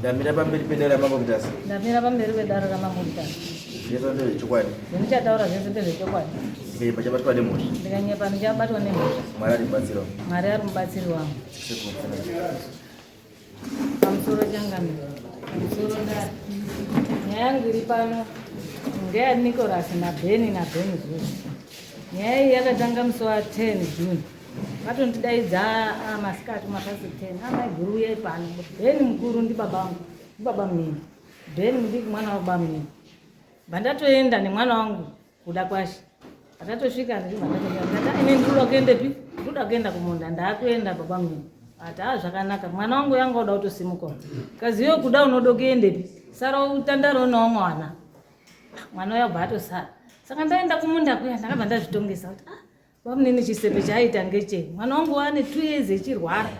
ndamira pamberi pedare ramambo mutasa ndamira pamberi pedare ramambo mutasa zvese ndezvechokwadi zvindichataura zvese ndezvechokwadi ndepa chabatwa nemhosva ndikanyepa ndichabatwa nemhosva mwari ari mubatsiri wangu mwari ari mubatsiri wangu Pamusoro changano. Pamusoro ndari. Nyaya yangu iri pano ngeya Nicholas naBeni naBeni Zuzu. Nyaya iyi yakatanga musi wa 10 June. Vatondidaidza ah, masikati mapasi 10. Amai guru uyai pano. Beni mukuru ndi baba wangu. Ndi baba mnini. Beni mudiki mwana wa baba mnini. Bandatoenda nemwana wangu kuda kwashe atatosvika ndatiinendiruda kuendepi ndoda kuenda kumunda ndakuenda baba mnini ati a zvakanaka mwana wangu yanga uda kutosimukawo kaziyo kuda unoda kuendepi sara utandaro unawo mwana mwana uya bva atosara saka ndaenda kumunda kuya ndakabva ndazvitongesa kuti ah Bamunini chisepe chaaita ngechei? Mwana wangu wane two years echirwara.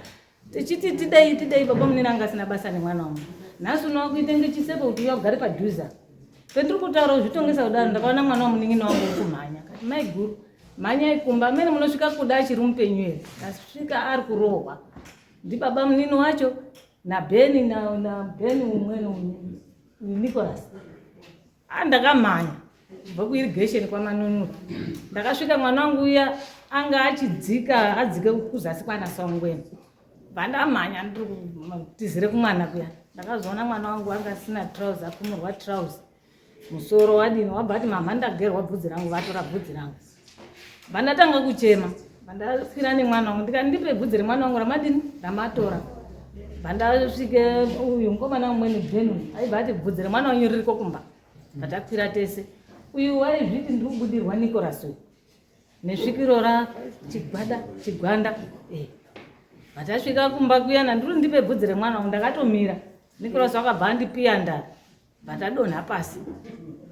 Tichiti tidei tidei baba munini anga asina basa nemwana wangu. Nhasi uno wakuita ngechisepe kuti uya ugare padhuze. Pendiri kutaura kuzvitongesa kudaro ndakaona mwana wamunini wangu uri kumhanya. Kati mai guru mhanya ikumba amene munosvika kuda achiri mupenyu here? Tasvika ari kurohwa. Ndibaba munini wacho na Benny na na Benny umweni Nicholas. Ah, ndakamhanya kubva kuirigation kwamanunura ndakasvika mwana wangu uya anga achidzika adzike kuzasi kwana saungweni vandamhanya ndiri kutizire kumwana kuya ndakazoona mwana wangu anga asina trouse akumurwa trouse musoro wadini wabva ati mamha ndagerwa bvudzi rangu vatora bvudzi rangu vandatanga kuchema vandaswira nemwana wangu ndikati ndipe bvudzi remwana wangu ramadini ramatora vandasvike uyu mukomana umweni benu aibva ati bvudzi remwana wanyu ririko kumba vatakwira tese uyu waizviti ndiri kubudirwa nicolas uyu nesvikiro ra chigwada chigwanda eh. vatasvika kumba kuyana ndiri ndipe bvudzi remwana wangu ndakatomira nicolas wakabva andipiya ndari Vatadonha pasi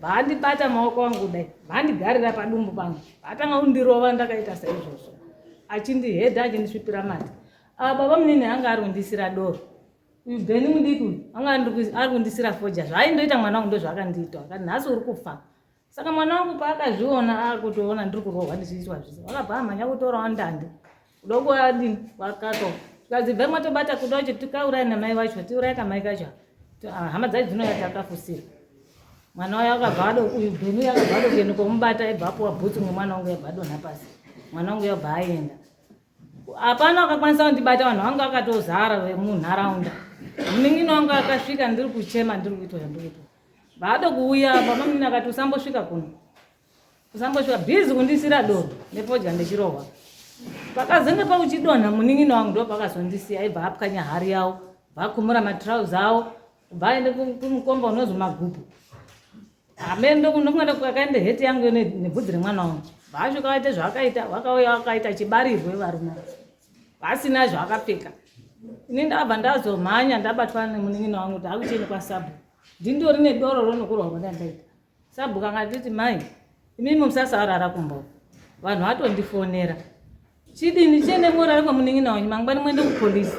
vaandibata maoko angu kudai vaandigarira padumbu pangu vaatanga kundirova ndakaita saizvozvo achindihedha achindisvipira mati ah, baba munini anga ari kundisira doro uyu beni mudiki uyu anga ari kundisira foja zvaaindoita mwana wangu ndozvaakandiita akati nhasi uri kufa Saka mwana wangu paakazviona akutoona ndiri kurohwa ndizviitwa zvese vakabva amhanya kutorawo ndande kuda kuadini vakato tikadzibva imwe tobata kuda kuti tikaurayi namai vacho tiurayi kamai kacho ah, hama dzacho dzinouya takafusira mwana wayo akabva ado uyu bhenu yakabva ado kuenda komubata ibva apuwa bhutsu nemwana wangu yabva adonha pasi mwana wangu yabva aenda hapana akakwanisa kundibata vanhu vanga vakatozara vemunharaunda munin'ina wangu akasvika ndiri kuchema ndiri kuitwa zvandikuitwa vaado kuuya bamamunini akati usambosvika kuno usambosvika bhizi kundisira doro nepodya ndechirohwa pakazenge pakuchidonha munin'ina wangu ndo pakazondisiya aibva apwanya hari yavo bvakumura matrauzi avo bva aende kumukomba unozi magupu Amen ndokundokunga kwakaenda heti yangu ine nebvudzi remwana wangu. Vacho kaita zvakaita vakauya vakaita chibarirwe varume. Vasina zvakapfeka. Ini ndabva ndazomhanya ndabatwa nemunin'ina wangu kuti akucheni kwasabu. Ndindori nedoro ronokurwa rwandandaita. Sabu kanga nditi mai imimi musasaurara kumbo. Vanhu vatondifonera. Chidini chene morara kwamunin'ina wanyu mangwani mwende kupolice.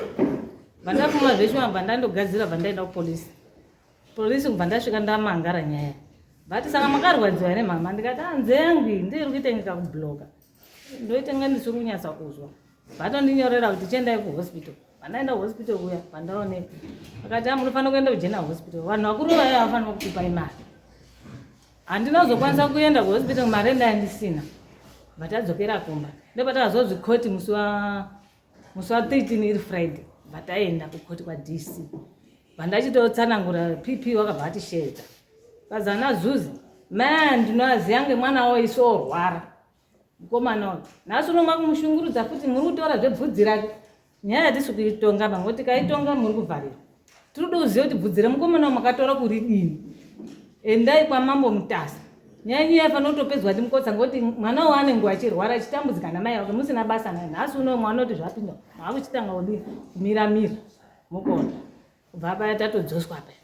Vandafuma zveshe vabva ndandogadzira bva ndaenda kupolice. Police kubva ndasvika ndamangara nyaya. But saka makarwadziwa ne mama ndikati anze ah, yangu ndiye iri kuitengeka ku bloga. Ndoita ngani ndisiri kunyatsa kuzwa. Vatondinyorera kuti chiendai ku hospital. Vanaenda hospital kuya pandaoneka. Akati ah, munofanira kuenda kujena hospital. Vanhu vakuru vaya havafanira kutipa imari. Handina kuzokwanisa kuenda ku hospital mari ndandisina. Vatadzokera kumba. Ndopatakazozvikoti musi wa musi wa 13 iri friday vataenda kukoti kwa dc vandachitotsanangura pp wakabva atishedza vazana zuzi ma ndinoaziva ngemwana wo isu orwara mukomana uyu nhasi uno makumushungurudza futi muri kutaura zvebvudzi rake nyaya yatisi kuitonga mango tikaitonga muri kuvharirwa tinoda kuziva kuti bvudzi remukomana wa makatora kuridini endai kwamambo mutasa nyaya nyaya yafanira kutopedzwa ndi mukotsa ngokuti mwana wo anenge achirwara achitambudzika namai vake musina basa naye nhasi uno mwana oti zvapinda maakuchitanga kudi kumira mira mukona kubva paya tatodzoswa paya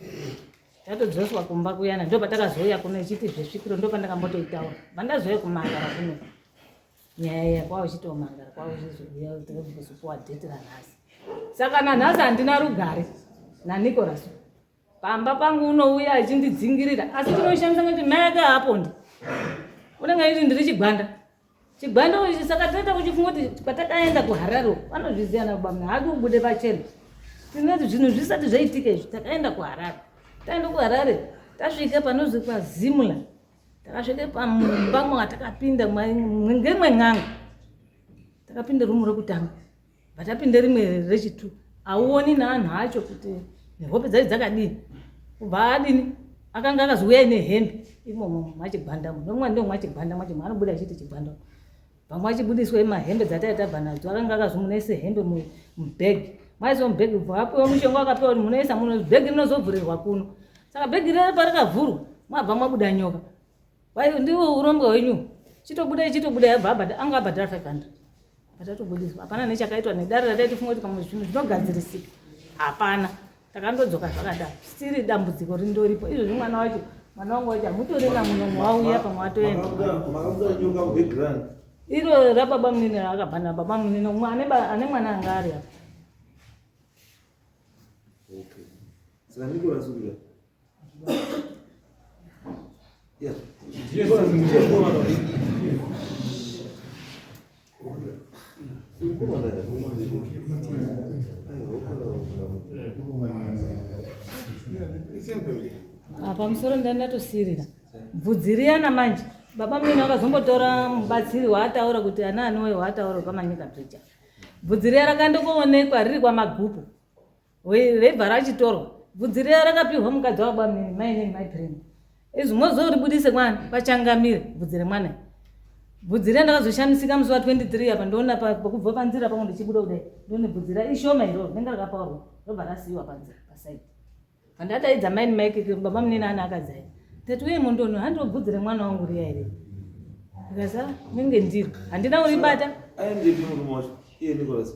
tatodzoswa kumba kuyana ndo patakazouya kuno ichiti zvesvikiro ndo pandakambotoitaura pandazouya kumandara kuno nyaya iya kwava uchitomangara kwava uchizobuya kuti kuzopuwa dheti ranhasi saka nanhasi handina rugare nanicolas pamba pangu unouya achindidzingirira asi tinoishandisa kuti mai ake haapondi unenge aiti ndiri chigwanda chigwanda ichi saka tinoita kuchifunga kuti patakaenda kuharare vanozviziva nabamna hadi ubude pachena tinoti zvinhu zvisati zvaitika izvi takaenda kuharare taenda kuharare tasvika panozikwa zimla takasvika pamumba mwanga takapinda ngemwe n'anga takapinda rumu rekutanga batapinda rimwe rechitu auoni neanhu acho kuti nehope dzai dzakadii kubva adini akanga akazouya ine hembe imomo mwachigwanda nomwa ndo mwachigwanda mwacho mwaanobuda achiti chigwanda vamwe vachibudiswa mahembe dzataive tabva nadzo akanga akazvimunoise hembe mubhegi maiso mubhegi bva apiwa mushonga wakapiwa kuti munoisa muno bhegi rinozovhurirwa kuno saka bhegi rere parakavhurwa mwabva mwabuda nyoka wai ndiwo urombwa hwenyu chitobuda ichitobuda yabva abhadha anga abhadhara five hundred atatobudiswa hapana nechakaitwa nedare rataitifunga kuti pamwe zvinhu zvinogadzirisika hapana takandodzoka zvakadaro siri dambudziko rindoripo izvozvi mwana wacho mwana wangu wacho hamutorina muno mwauya pamwe watoenda iro rababa munini raakabhana baba munini umwe ane mwana anga ari apa Yes. Yes. pamusoro ndani ndatosirira bvudzi riyana manje baba mina vakazombotora mubatsiri waataura kuti ana anowe waataura pamanyika bridge bvudzi riya rakandokoonekwa riri kwamagupu Raibva rachitorwa. Bvudzi riya rakapihwa mukadzi wababa mnini mai neni mai Brenda. Izvi mozoribudise kwani pachangamire bvudzi remwana. Bvudzi riya ndakazoshamisika musi wa 23 apa ndoona pakubva panzira pangu ndichibuda kudai. Ndoona bvudzi riya ishoma iro rinenge rakapaurwa robva rasiiwa panzira paside. Pandataidza mai neni mai keke baba mnini ana akadzai. Tati uye mundono handiwo bvudzi remwana wangu riya iri. Ndikaza menge ndiri handina uribata. Ayi ndiri murume wacho. Iye Nicholas.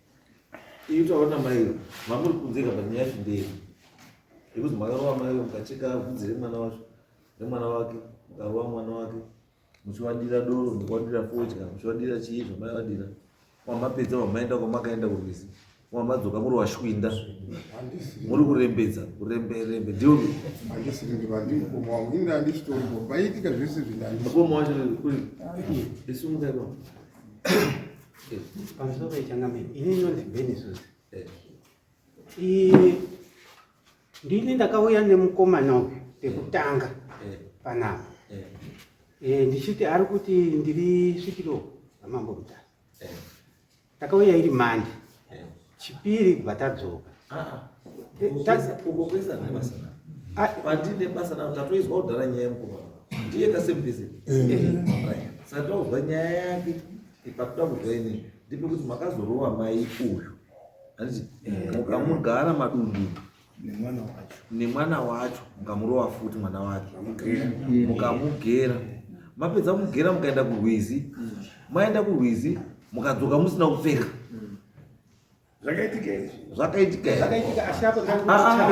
Iyi taona mai mamuri kunzeka panyaya yacho ndeye yekuti makarova mai mukacheka vhudzi remwana wacho remwana wake mukarova mwana wake muchiwadira doro mukuwadira fodya muchiwadira chii zvamaiwadira wamapedza wamaenda kwamakaenda kurwizi wamadzoka muri washwinda muri kurembedza kuremberembe ndioni mukoma wacho isu mukaiwa pamusoro pechangamire ini inonzi benisus ndini ndakauya nemukomana uyu pekutanga panapa eh, ndichiti ari kuti ndiri svikiro ramambo mutasa takauya iri mandi Chipiri kubva tadzoka. Ah, ah. Uko kwese ane basa navo. Ah. Pandine basa navo tatoizwa kudhara nyaya yemukoma. Ndiye ka same busy. Eh. Eh. Saka tozwa nyaya yake ipatoda kuzwa ini. Ndipo kuti makazorova mai uyu. Handiti eh. mukamugara madundu. nemwana wacho nemwana wacho mukamurova futi mwana wake mukamugera mapedza kumugera mukaenda kurwizi mm. maenda kurwizi mukadzoka musina kupfeka mm. zvakaitika izvi zvakaitika zvakaitika ashapo zvakaitika ah, ah,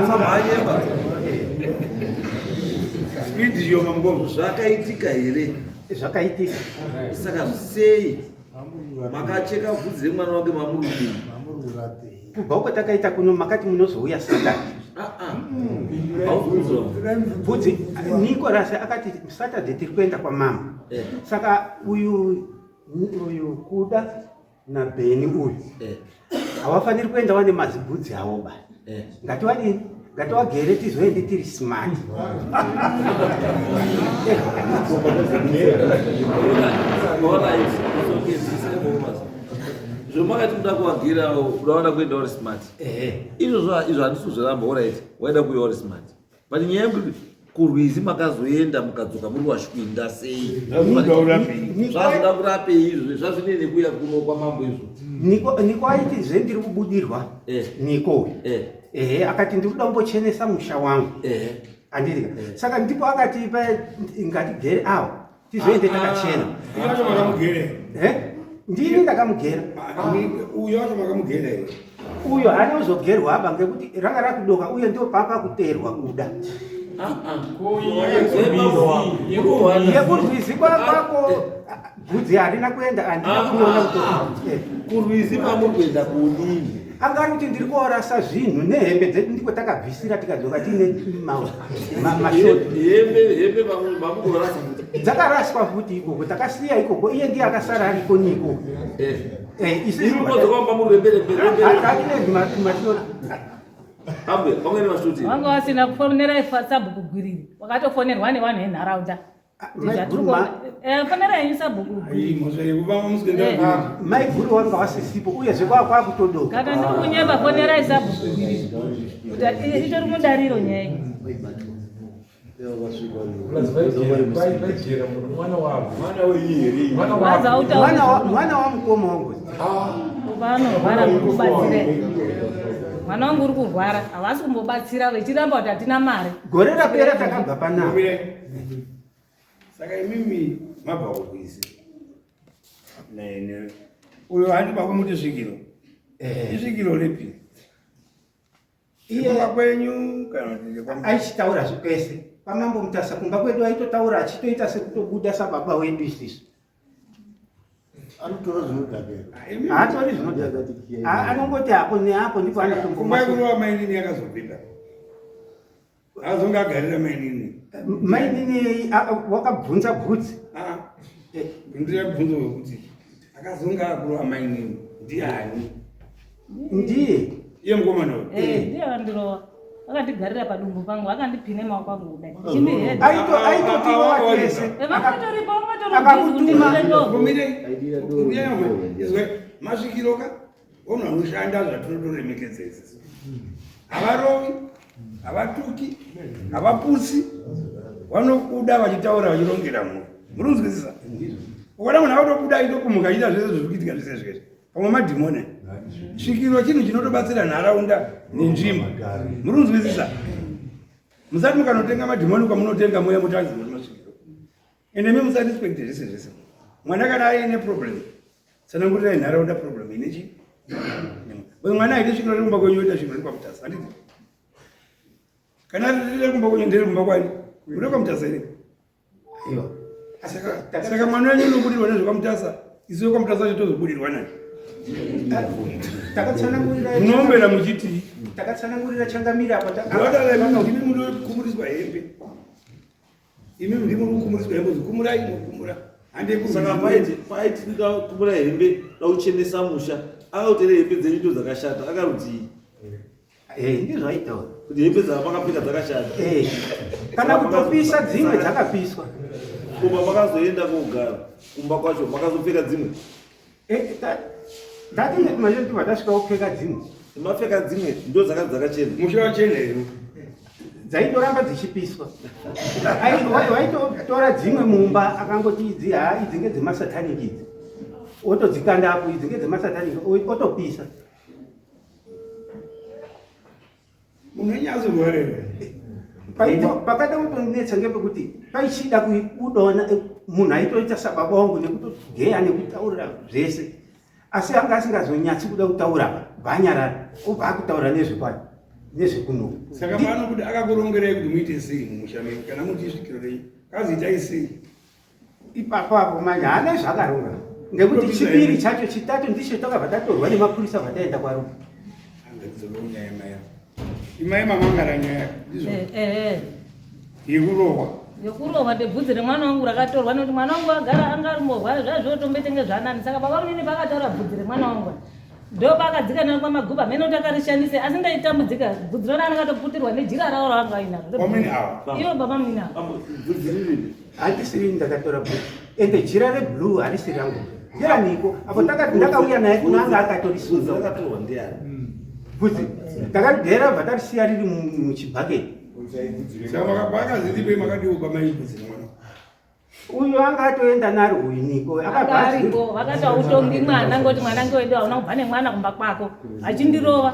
ah, zvakaitika here zvakaitika saka sei makacheka bvudzi remwana wake mamurudei kubva uko takaita kuno makati munozouya saturday ah, ah. bvudzi nicolas akati saturday tiri kuenda kwamama eh. saka uyu uyu kuda nabheni uyu eh. havafaniri kuenda wane mazibhudzi avo ba eh. ngati wadini ngati wagere tizoende tiri smart zvomakati kuda kuwagirawo udawana kuenda uri smart izvozvo izvo handisi kuzviramba orit waida kuya uri smart But nyaya yekuti kurwizi makazoenda mukadzoka muri washwinda sei zvazoda kurapei izvo zvazvinei nekuya kuno kwamambo izvo niko niko aiti zve ndiri kubudirwa eh. niko eh. ehe akati ndiri kuda kumbochenesa musha wangu eh. andiri saka ndipo akati ngatigere awo tizoende takachena eh? ndini ndakamugera uyo acho makamugera here uyo haana kuzogerwa apa ngekuti ranga rakudoka uye ndo papa kuterwa kuda yekurwizi kwakwako bvudzi harina kuenda andina kuona kutokurwizi eh. kwamuri kuenda kunini Anga ari kuti ndiri kuorasa zvinhu nehembe dzedu ndiko takabvisira tikadzoka tiine mashotidzakaraswa futi ikoko takasiya ikoko iye ndiye akasara ariko niko eh. eh, vanga vasina kufonera sabhuku gwiriri wakatofonerwa nevanhu venharaunda fanera yenyu sabhuku maiguru wanga wasisipo uyezve kwava kwakutodoka kana ndiri kunyeba fonerai sabhuku itori mudariro nyaya mwana wamukoma wangu vanorwara kukubatsira mwana wangu uri kurwara havasi kumbobatsira vechiramba kuti hatina mari gore rapera takabva panaa saka imimi mabva kukwisi nene uyo handi pakumuti svikiro eh. isvikiro ripi iyekumba kwenyu kana aichitaura zvipese pamambo mutasa kumba kwedu aitotaura achitoita sekutobuda sababa wedu isisu anotora zvinodhakehaatori ah, zvinodhaka anongoti apo neapo ndipo anotombomakurowa mainini yakazopinda azonge agarira mainini mainini wakabvunza bvudzi ndiri bvunzo wekuti akazonge akurova mainini ndiani ndiye iye mukomana uyu eh, ndiye akandirova akandigarira padumbu pangu akandipine maoko angu kudai chimihedaitotiwaevangatoripo eh, vangatoromire masvikiroka Ono anoshanda zvatinotoremekedza isisi. Havarovi, havatuki, havapusi, vanokuda vachitaura vachirongera mhuri. Muri kunzwisisa? Ukaona munhu avatokuda aitokumuka achiita zvese zviri kuitika zvese zvese. Pamwe madhimoni. Svikiro chinhu chinotobatsira nharaunda nenzvimbo. Muri kunzwisisa? Musati mukanotenga madhimoni kwamunotenga mweya mutanzi muri masvikiro. And imi musarespekte zvese zvese mwana kana aine problem tsanangurirai nharaunda problem ine chii uyu mwana aite sviko rekumba kwenyu oita sviko rekwamutasa handiti kana riri rekumba kwenyu ndiri kumba kwani uri kwamutasa iri aiwa saka mwana wenyu unobudirwa nezvekwamutasa isu wekwamutasa cho tozobudirwa nani munombera muchiti takatsanangurira changamira apa wadala imana ndimi munokumburiswa hembe imi ndimo mukumuriswa hembe kumurai mukumura handisaka paiti paiti ndikakumura hembe dauchenesa musha akautere hembe dzenyu ndo dzakashata akarudzii eh, ndizvaitaura kuti hembe dzavakapfeka dzakashata eh, kana kutopisa dzimwe dzakapiswa kumba makazoenda kogara kumba kwacho makazopfeka dzimwe ndatinemaeatasvika kupfeka dzimwe mapfeka dzimwe ndo dzaka dzakachena mushiwa chena ino dzaitoramba dzichipiswa waitotora dzimwe mumba akangoti idzi haa idzi ngedzemasatanic idzi otodzikanda apo idzi ngedzemasatanic otopisa unonyatsogorerwa pakada kutonetsa ngepekuti paichida kuona eh, munhu aitoita sababa wangu nekutogeya nekutaurira zvese asi anga asingazonyatsi kuda kutaura bhanyarara obva akutaura nezvekwai nezvekunoku saka pano kuti akakurongerai kuti muite sei mumusha menyu kana muti isvikiro renyu kazi itai sei ipapo apo manje haana zvakarora ngekuti chipiri chacho chitatu ndicho takabva tatorwa nemapurisa vataenda kwaruma imai mamangara nyaya ndizvo eh, eh, eh. yekurohwa yekurohwa ndebvudzi remwana wangu rakatorwa nekuti mwana wangu agara anga ari morwara zvazviotombetenge zvanani saka baba munini pakataura bvudzi remwana wangu ndopakadzika nani kwamaguba mhene kuti akarishandise asi ndaitambudzika bvudzi rona anakatoputirwa nejira rawo raanga ainaro iyo baba munini avo handisiri ndakatora bhuku ende jira reblue harisi rangu ndianiko apo takati ndakauya naye kuna anga akatorisudza bvudzi takagera bva tarisiya riri muchibhaketi uyu anga atoenda naro uyu niko akaariko vakati autongi mwana ngoti mwana ngewedu hauna kubva nemwana kumba kwako achindirova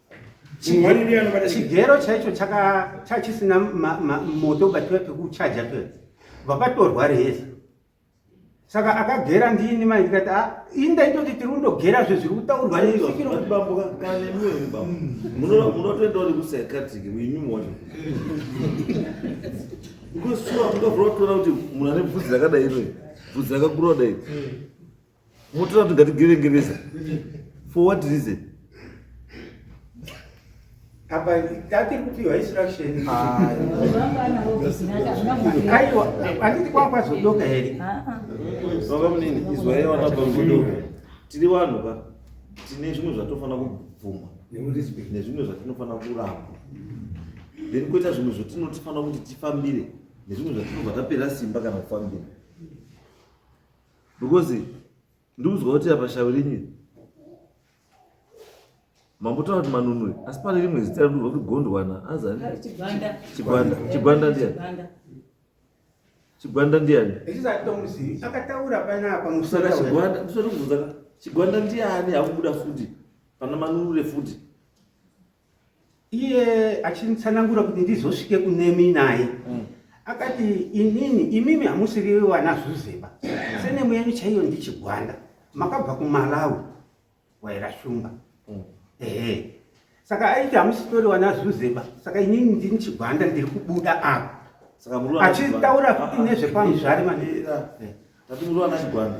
chigero chaicho chachisina moto batiwa pekuchaja pe vakatorwa reheza saka akagera ndini mai ndikati ah, indaitoti tiri kundogera zve zviri kutaurwa nemunotoendauri kusaikatiki muinyumona because sure mungavura kutoona kuti munhu ane bvudzi rakadai iro bvudzi rakakura kudai Motora kuti ngatigevengeresa. For what reason? apa tatiri kupiwa instruction ah. aiwa handiti kwakwazodoka here ah, ah. baba munini izwai vana bambodoka tiri vanhu ka tine zvimwe zvatofanira kubvuma nezvimwe zvatinofanira kuramba then koita zvimwe zvatinotifanira kuti tifambire nezvimwe zvatinobva tapera simba kana kufambira because ndikudzwa kuti apa shavi renyu mambotaura kuti manunwe asi pane rimwe zita rinova kuti gondwana azanichigwanda chigwanda ndiani chigwanda ndiani chigwanda ndiani akubuda futi pana manunure futi iye achitsanangura kuti ndizosvike kunemi naye mm. akati inini imimi hamusiri vana zvuzeba senemu yenyu chaiyo ndichigwanda makabva kumalawi waira shumba mm. ehe saka aiti hamusitori vana zvuzeba saka inini ndini chigwanda ndiri kubuda apa achitaura kuti nezvepamuzvari maneiati muri vana chigwanda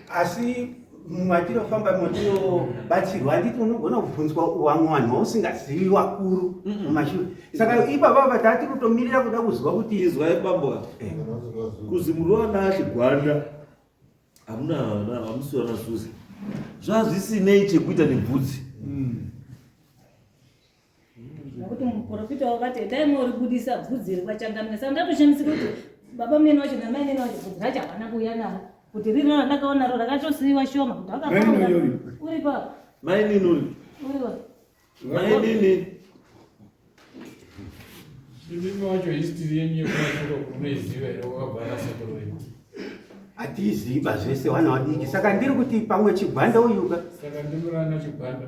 asi matinofamba matinobatsirwa handiti unogona kubvunzwa wamwe vanhu vausingazivi vakuru mumashure saka ipapa vataa tiri kutomirira kuda kuziva kuti izwai bambo a eh. kuzi muri vana achigwanda hamuna hamusi vana zuzi zvazvisinei chekuita nebvudzi mm. nokuti muprofita wakati endai moribudisa bvudzi riri kwachangamira saka ndatoshandisi kuti baba mnene wacho namai mnene wacho bvudzi racho havana kuuya naro kuti riri rona ndakaona ro rakatosiiwa shoma kuti uri pa mainini uri uriwa mainini imimi wacho history yenyu yekumasoko kunoiziva here wakabva nasekuru wenyu hatiiziva zvese wana wadiki saka ndiri kuti pamwe chigwanda uyuka saka ndimurana chigwanda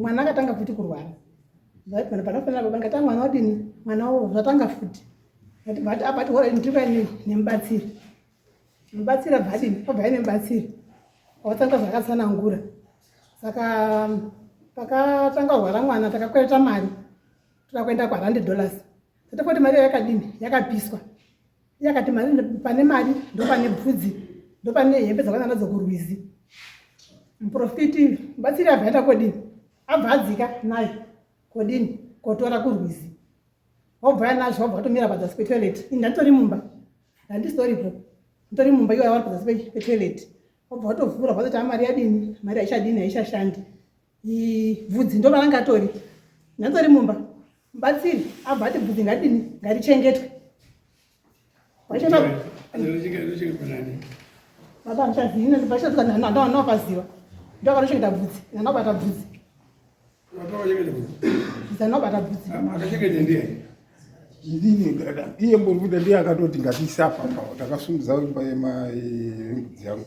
mwana akatanga futi kurwara zvaipana panofanira baba ngati mwana wadini mwana wo zvatanga futi ngati bati abati ah, hora ndikuya nemubatsiri mubatsiri abvadini abvai nemubatsiri awatanga zvakatsanangura saka pakatanga rwara mwana takakwereta mari toda kuenda kwarande dollars Tata kuti mari yakadini yakapiswa yakati mari pane mari ndopane bvudzi ndopane hembe dzakwana nadzo kurwizi muprofiti batsiri abva aenda kodini abva adzika naye kodini kotora kurwizi wabva yanazvo wabva watomira padzasi petoilet ini ndanditori mumba ndandisitoripo nditori mumba iwo awari padzasi petoilet wabva watovhura wazoti amari yadini mari haichadini haichashandi bvudzi ndo maranga atori nyanzori mumba mubatsiri abva ati bvudzi ngaridini ngarichengetwe baba ndichaziinbachatoka ndanopaziva ndokanochengeta bvudzi ndanobata bvudzi ndanobata bvudzi iye mbovuda ndiye akatoti ngatiisapapa takasungudza imba yembudzi yangu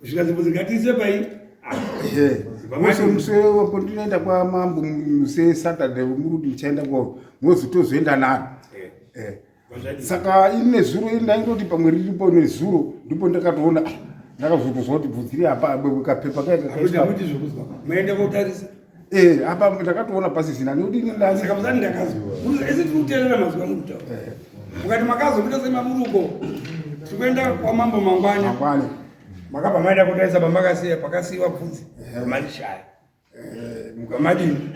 kusvika zimbuzi ngatiise pai muswepo ndinoenda kwamambo sesaturday muruti ndichaenda ko mozi tozoenda naro saka ini nezuro ini ndaingoti pamwe riripo nezuro ndipo ndakatoona ah, ndakazotozwa kuti bvunzi ri apa kapepa kaekaakuti zvokuzwa maenda kotarisa Eh, apa ndakatoona pasisina nekuti ini ndani. Saka muzani ndakazwa. Ese tiri kuteerera mazwi amuri kutaura. Eh. Mukati makazobuda semaburuko. Tiri kuenda kwamambo mangwani. Mangwani. Makabva maenda kotarisa pamakasiya pakasiiwa bvunzi. Eh. Mari shaya. Eh, mukamadini.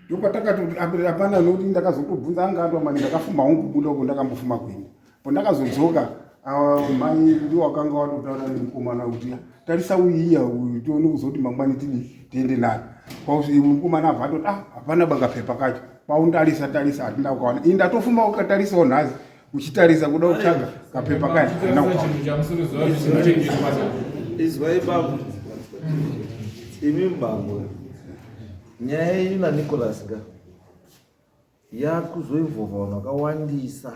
ndopatakatoti ambirira pana noti ndakazotobvunza anga atwa mani ndakafuma hongu kubuda uko ndakambofuma kuenda po ndakazodzoka ah, mai ndiwo wakanga watotaura nemukomana kuti tarisa uyiya uyu tione kuzoti mangwani tidii tiende naye mukomana abva atoti ah hapana banga pepa kacho kwaundarisa tarisa hatina ukaona i ndatofuma ukatarisawo nhasi uchitarisa kuda kutsvaga kapepa kaya izwai bambo imi mbambo nyaya yenyu nanicolas ka yakuzoivhova vanhu vakawandisa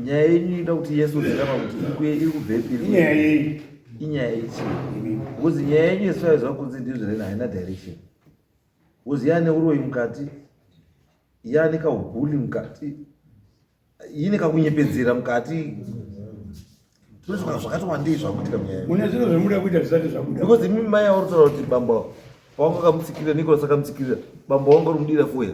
nyaya yenyu inoda kuti yesu zirama kuti kuye iri kubvepi inyaya yei inyaya yechii bcause nyaya yenyu yesvaiziva kunzi ndizvo rena haina direction Uzi yaane uroyi mukati, yaane kaubuli mukati, yine kakunyepedzera mukati. Tinozoka zvakati wandei zvakuitika munyaya. Mune zvinhu zvemuda kuita zvisati zvabuda. Because imi mai auri kutaura kuti bamba pawanga kamutsikirira Nicholas akamutsikirira bamba wanga uri mudira kuya.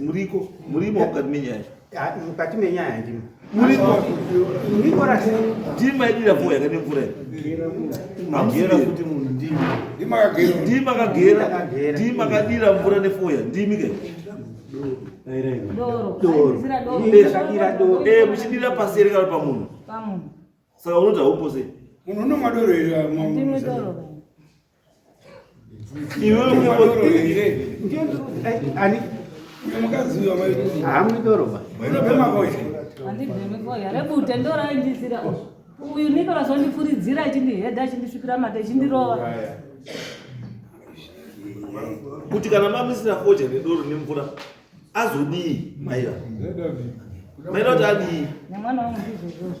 muriko murimo mukati menyaya mukati menyaya ndimo ndima idira mvura yakati mvura ndima kagera ndima kadira mvura nefoya ndimi ke muchidira pasi ere kana pamunhu saka unoda upo sei munhu unomwa doro here uyu nicolas wandifuridzira achindihedha achindisvipira mate achindirova kuti kana mamisira foja nedoro nemvura azodii maira maira kuti adii nemwana wangu ndizvozvozvo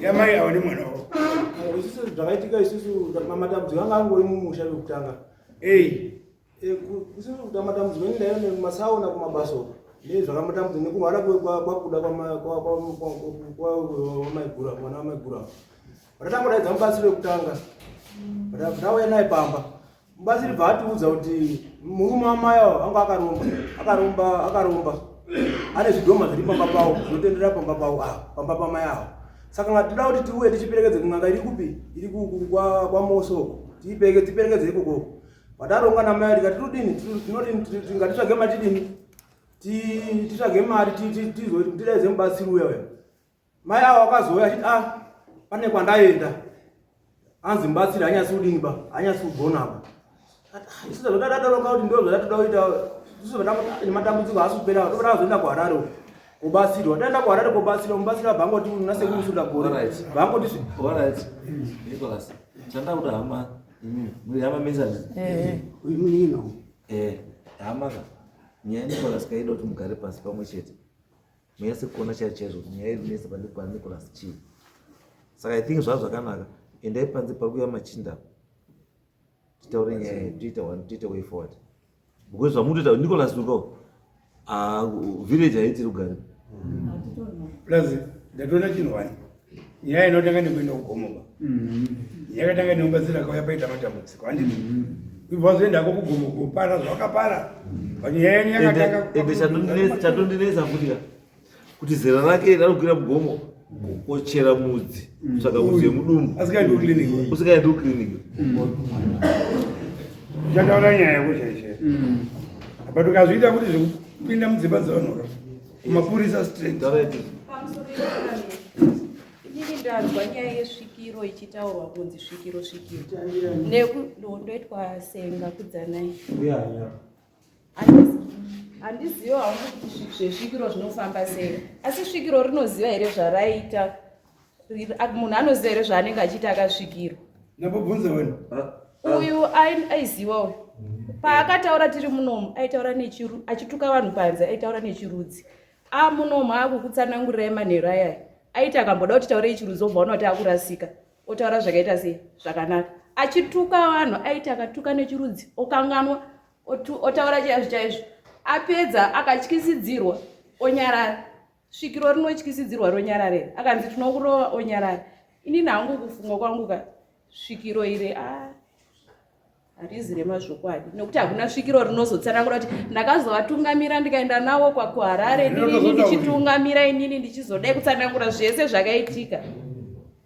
yamai avo nemwana wavo isusu zvakaitika isusu matambudziko anga angori mumusha vekutanga ei eh, isusu kuta matambudziko ini ndaiva nemasaona kumabasa uko nezvakamutambudza nekurwara kwakuda kwamaigura mwana wamaigura vatatanga kudaidza mubasi vekutanga vatauya naye pamba Mubatsiri bva atiudza kuti murume wamai awo anga akaromba akaromba akaromba ane zvidhoma zviri pamba pawo zvinotenderera pamba pawo awo pamba pamai awo saka nga tinoda kuti tiuye tichiperekedze kun'anga iri kupi iri kwamosoko tiperekedze ikokoko pataronga namai rika tinodini tinodini ngatitsvage matidini titsvage mari tizotidaidze mubatsiri uya uya Mai avo vakazouya achiti ah pane kwandaenda hanzi mubatsiri hanyasi kudini ba hanyasi kugona ba ah, isu zvadadadoroka kuti ndo zvadatoda kuita isu nematambudziko haasi kupera toda kuzoenda kuharare kubatsirwa taenda kuharare kubatsirwa mubatsiri abva angoti nasekusunda gore bva angoti chandakuda hama muri hama mesani uimunino eh, eh, hama ka nyaya nicolas kaida kuti mugare pasi pamwe chete mese kuona chaivo chaizvo kuti nyaya iri kunetsa pane kwa nicolas chii saka i think zvava zvakanaka endai panze pari kuya machinda titaure nyaya yedu tiita one tiita way forward because zvamutoita nicolas uko ah, village haiti rugare plus ndatoona chinhu wani nyaya inotanga nekuenda kugomo ba mm-hmm. yakatanga neumbatsira kauya paita matambudziko andini ibva mm-hmm. zoenda ko kugomo kupara zvakapara but nyaya yenyu yakatanga chatondinetsa futi ka kuti zera rake ranokwira mugomo kochera mudzi mm. saka mudzi yemudumbu asikaendi kuclinic usikaendi kuclinic chataura nyaya yako chaichee mm. but ukazviita kuti zvekupinda mudzimba dzavanhu Mapurisa straight. Inini ndanzwa nyaya yesvikiro ichitaurwa kunzi svikiro svikiro. Nekundoitwa senga kudzanai. Handiziva hauna kuti zvezvikiro zvinofamba sei. Asi svikiro rinoziva here zvaraita? munhu anoziva here zvaanenge achiita akasvikirwa ndambobvunza wena uyu aiziva uyu paakataura tiri munomu aitaura nechiru achituka vanhu panze aitaura nechirudzi amunomu akukutsanangurirai manheru ayaya aiti akamboda kuti taurei chirudzi obva ona kuti akurasika otaura zvakaita sei zvakanaka achituka vanhu aiti akatuka nechirudzi okanganwa otaura chaizvo chaizvo apedza akatyisidzirwa onyarara svikiro rinotyisidzirwa ronyarare akanzi tinokurova onyarare inini hangu kufungwa kwangu ka svikiro iri a ah, harizi remazvokwadi nokuti hakuna svikiro rinozotsanangura kuti ndakazovatungamira ndikaenda navo kwakuharare ndinini ndichitungamira inini ndichizodai kutsanangura zvese zvakaitika